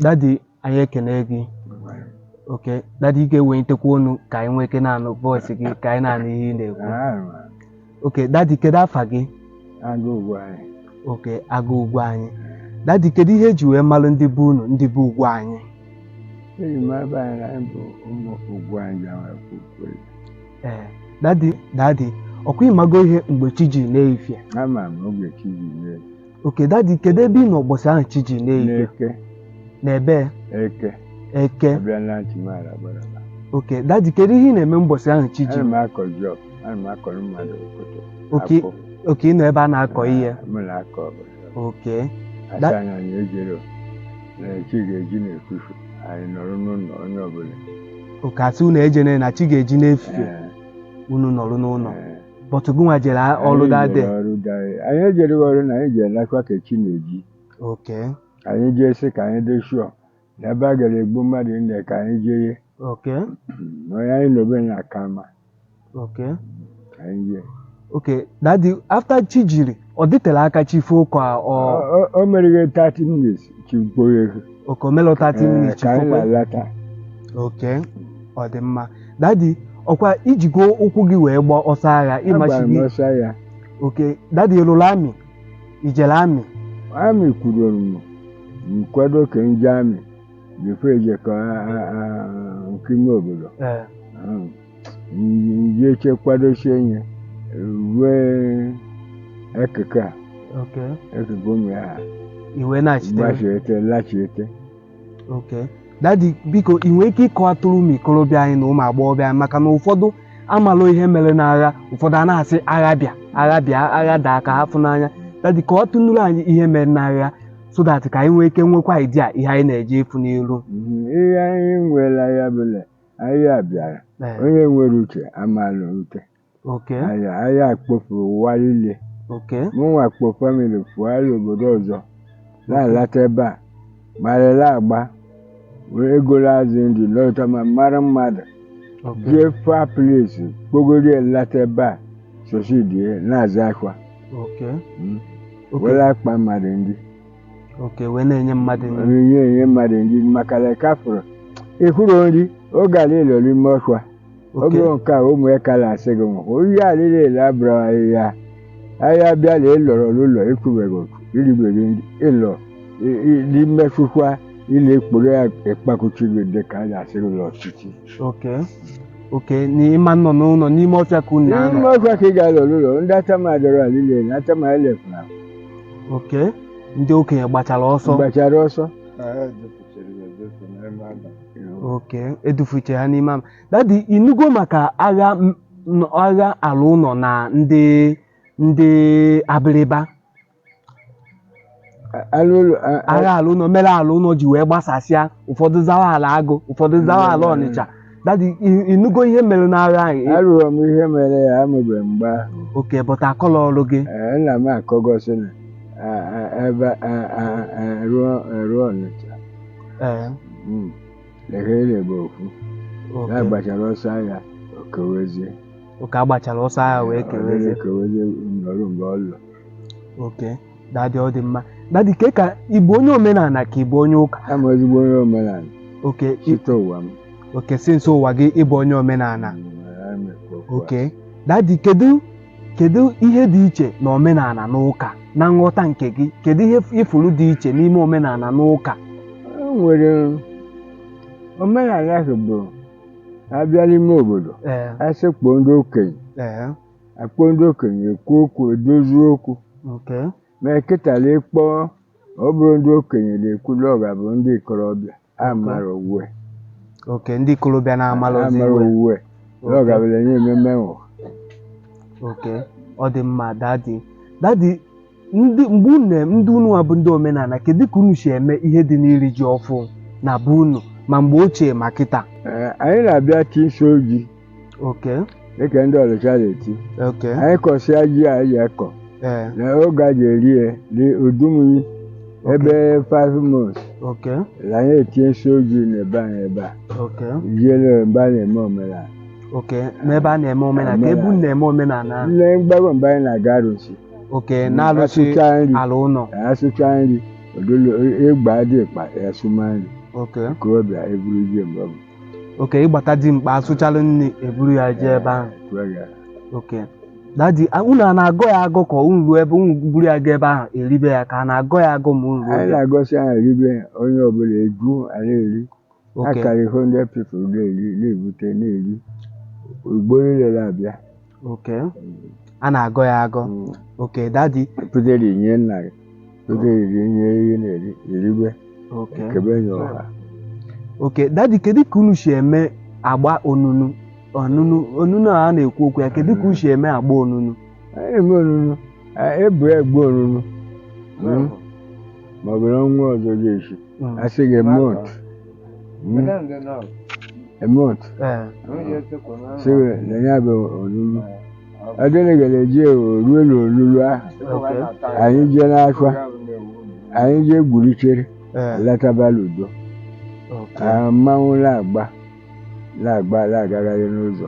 daddy anyị ekene gị okay daddy ị ga-ewelitekwa ọnụ ka anyị nwee ike na-anụ voice gị ka anyị na-anụ ihe ị na-ekwu okay daddy kedu afa gị Aga Ugwuanyị okay Aga Ugwuanyị daddy kedu ihe eji wee malụ ndị be unu ndị be Ugwuanyị eji m ebe anyị na anyị bụ ụmụ Ugwuanyị ji ama ekwu okwu eze. ee daddy daddy ọkwa ịmago ihe mgbe chi ji n'efie ama m oge chi ji mee okay daddy kedu ebe ị nọ ụbọchị ahụ chi ji n'efie n'eke n'ebe eke eke abịa na ntị m ara gbara ala. okay daddy kedu ihe ị na-eme ụbọchị ahụ chi ji ana m akọ job ana m akọrọ mmadụ okoto okay akpụ. okay ị nọ ebe a na-akọ ihe Ah, mụ na-akọ ọbụla okay Da- asị anyị ejene na chi ga-eji n'efufu anyị nọrọ n'ụlọ onye ọbụla okay asị unu ejene na chi ga-eji n'efie Eh, unu nọrọ n'ụlọ eh. but gịnwa jere a- ọrụ that day Anyị jere ọrụ that day. anyị jere ọrụ na anyị ji alakwa ka chi na-eji okay anyị jee sị ka anyị dị shụọ na ebe a gara egbu mmadụ nne ka anyị jee ye okay onye anyị nọ be ya aka mma okay ka anyị jee okay daddy after chi jiri ọ dịtela aka chi fo ka ọ Ọ- ọ- o mere ihe 30 minutes chi gboye okay o melụ 30 minutes ka anyị chi fo kwe na-alata okay ọ dị mma daddy ọkwa ijigo ụkwụ gị wee gbaa ọsọ agha agbara ịmachi m gị ọsọ agha okay daddy ịlụrụ army ijele army army kwadoro m nkwado ka m jee army before ejekọ nke ime obodo ee Ahụ. njeche kwadosie ihe rue ekeke a ekeke ụmụ ya ha iwe na-achite gbachiete lachiete okay daddy biko ị nwere ike ịkọwatụrụ ụmụ ikorobịa anyị na ụmụ agbọghọbịa anyị maka na ụfọdụ amalụ ihe mere n'agha ụfọdụ a na-asị agha bịa agha bịa agha daa ka ha fụ n'anya daddy kọwatụnụrụ anyị ihe mere n'agha so that ka anyị nwee ike nwekwa idea ihe anyị na-eje ịfụ n'iru ihe anyị nwere ya bụla Aya bịara. Ee, Onye nwere uche amaala ute. okay Aya aya kpofuru ụwa niile. okay Mụnwa kpo family fụgharị obodo ọzọ. Na-alata ebe a. Marịla agba. Were ego la-azụ nri lọta ma mara mmadụ. okay Jee far place kpogoro ya lata ebe a. Sosidie na-aza akwa. okay Mm. okay Were akpa mmadụ nri. okay wee na-enye mmadụ nri onyinye enye mmadụ nri maka na ka fụrụ ịhụrụ nri oge ala elo n'ime ọfịa ọ okay bụrụ nke a ụmụ ya ka na-asị gị nwụkwụ ihe alịla ele abụrụ ahịhịa aya bịa na ịlọrọ n'ụlọ ịkwụbeghị oku irigbeghị nri ịlọ i- i- n'imesụkwa ile ekporo ya ịkpakuchi gị dị ka a na-asị gị n'ọchịchị okay okay na ịma nọ n'ụlọ n'ime ọfịa ka unu na-anọ n'ime ọfịa ka ị ga-alọ n'ụlọ ndị atama adọrọ alịla ele atama elefụrụ okay ndị okenye gbachara ọsọ gbachara ọsọ okay edufuche ha n'ime ama daddy ịnụgo maka agha m- n- agha alọ ụnọ na ndị ndị abịrịba agha alọ ụnọ mere alọ ụnọ ji wee gbasasịa ụfọdụ zawa alọ agụ ụfọdụ zawa alọ ọnịcha daddy ị- ịnụgo ihe mere n'agha anyị anụrụ m ihe mere ya amụbeghị m mgbe ahụ okay but akọlọrọ gị Ee, nna m akọgọsị na a- a- ebe a- a- alọ alọ ọnịcha Ee, Mm. lehere bụ ofu ya okay. gbachara ọsọ agha o kewezie okay agbachara ọsọ agha wee kewezie kewezie nọrụ mgbe ọ lụ okay daddy ọ dị mma daddy ke ka ị bụ onye omenala ka ị bụ onye ụka abụ m ezigbo onye omenala okay ị- site ụwa m okay since ụwa gị ịbụ onye omenala okay daddy kedu kedu ihe dị iche na omenala na ụka na nghọta nke gị kedu ihe ifuru dị iche n'ime omenala na ụka o nwere omenala ahụ bụ abịa n'ime obodo ee asị kpọọ ndị okenye ee akpọ ndị okenye ekwu okwu edozi okwu okay ma eketala ịkpọ ọ bụrụ ndị okenye na-ekwula ọ ga-abụ ndị ikorobịa amara uwe okay ndị ikorobịa na-amala ozi amara iwe uwe ọ ga-abụla nye ememe nwụ okay ọ dị mma daddy daddy ndị mgbe unu na- ndị unu nwa bụ ndị omenala kedu ka unu si eme ihe dị n'iri ji ọfụ na be unu ma mgbe ochie ma kịta Ee, anyị na-abịa ti isi ji okay dịka ndị ọnịcha na-eti okay anyị kọsịa ji a anyị akọ ee na oge a ji eri ya dị udumuyi ebe five months okay na anyị etie isi ji n'ebe anyị ebe a okay jiele ebe a na-eme omenala okay n'ebe a na-eme omenala ka ebe unu na-eme omenala nne mgbago mgbe anyị na-aga arụsị okay Mm, na-alụchi asụcha nri. alọ ụnọ asụcha nri odolo egbe dimkpa asụma nri okay okorobịa eburu ji mgbe m okay ịgbata dimkpa asụchalụ nri eburu ya jee ebe ahụ kwuo ya okay daddy a- unu a na-agọ ya agọ ka unu ruo ebe unu buru ya gaa ebe ahụ eribe ya ka a na-agọ ya agọ ma unu ruo anyị ebe na-agọsị anyị ribe onye ọbụla eju anyị eri a Okay. karịrị 100 people na-eri na-ebute na-eri igbo niile na-abịa Okay. A na-agọ ya agọ. Mm. Okay, daddy. pụtara inye nna gị pụtara iri nye ihe na-eri eribe Okay. ekebe nye ọha Okay, daddy, kedu ka unu si eme agba onunu? Onunu, onunu a na-ekwu okwu ya, kedu ka unu si eme agba onunu? anyị na-eme onunu ebu egbu onunu Mm. ma ọ bụrụ ọnwa ọzọ ga-esi asị gị eme otu Mm. eme otu sị gị na ya bụ onunu ọdịrị gara eji orue na onunu ahụ anyị jee n'afọ anyị jee gburuchere lataba n'udo Ah, mmanwụ na-agba na-agba na-agagharị n'ụzọ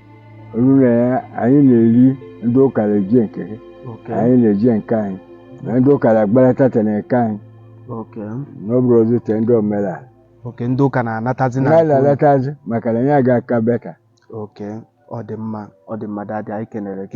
onunu ya anyị na-eri ndị ụka na-eji nke ha Okay. anyị na-eji nke anyị na ndị ụka na-agbalata te na nke anyị Okay. na ọ bụrụzi te ndị omenala Okay. Ndị ụka na-anatazi na-alatazi maka na ya ga-aka better Okay. Ọ dị mma. Ọ dị mma daddy anyị kenere gị.